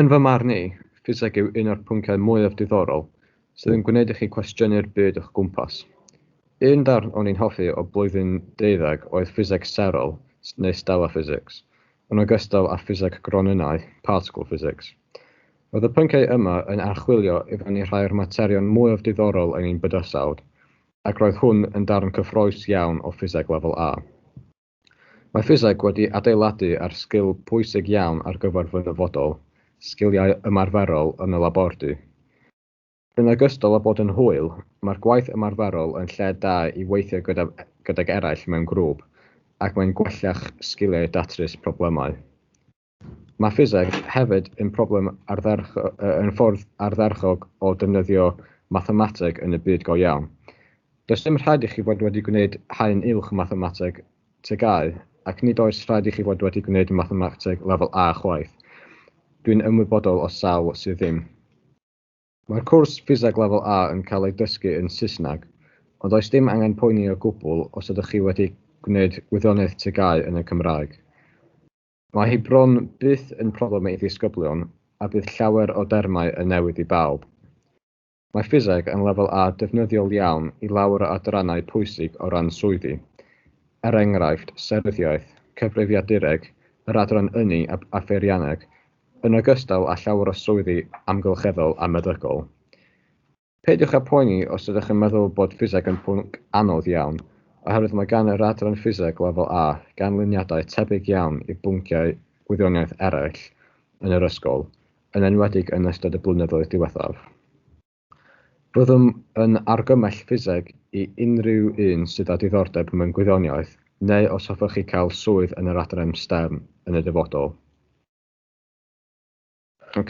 Yn fy marn i, ffiseg yw un o'r pynciau mwyaf diddorol sydd yn gwneud i chi cwestiynu'r byd o'ch gwmpas. Un darn o'n i'n hoffi o blwyddyn deuddeg oedd ffiseg serol, neu stellar physics, yn ogystal â ffiseg gronynnau, particle physics. Roedd y pynciau yma yn archwilio i fyny rhai o'r materion mwyaf diddorol yn ein bydysawd, ac roedd hwn yn darn cyffrous iawn o ffiseg lefel A. Mae ffiseg wedi adeiladu ar sgil pwysig iawn ar gyfer fy nyfodol, sgiliau ymarferol yn y labordy. Yn ogystal â bod yn hwyl, mae'r gwaith ymarferol yn lle da i weithio gyda, gydag eraill mewn grŵp, ac mae'n gwella'ch sgiliau datrys problemau. Mae ffiseg hefyd yn problem ardderch- yy yn ffordd ardderchog o defnyddio mathemateg yn y byd go iawn. Does dim rhaid i chi fod wedi gwneud haen uwch mathemateg TGAU, ac nid oes rhaid i chi fod wedi gwneud mathemateg lefel A chwaith. Dwi'n ymwybodol o sawl sydd ddim. Mae'r cwrs ffiseg lefel A yn cael ei dysgu yn Saesneg, ond does dim angen poeni o gwbl os ydych chi wedi gwneud gwyddoniaeth TGAU yn y Cymraeg. Mae hi bron byth yn problem i ddisgyblion a bydd llawer o dermau yn newydd i bawb. Mae Ffiseg yn lefel A defnyddiol iawn i lawer o adrannau pwysig o ran swyddi, er enghraifft, seryddiaeth, cyfrifiadureg, yr adran ynni a pheirianneg, yn ogystal â llawer o swyddi amgylcheddol a meddygol. Peidiwch â phoeni os ydych yn meddwl bod ffiseg yn pwnc anodd iawn, oherwydd mae gan yr Adran Ffiseg Lefel A ganlyniadau tebyg iawn i bwnciau gwyddoniaeth eraill yn yr ysgol, yn enwedig yn ystod y blynyddoedd diwethaf. Byddwn yn argymell ffiseg i unrhyw un sydd â diddordeb mewn gwyddoniaeth neu os hoffech chi cael swydd yn yr adran stem yn y dyfodol. Ok,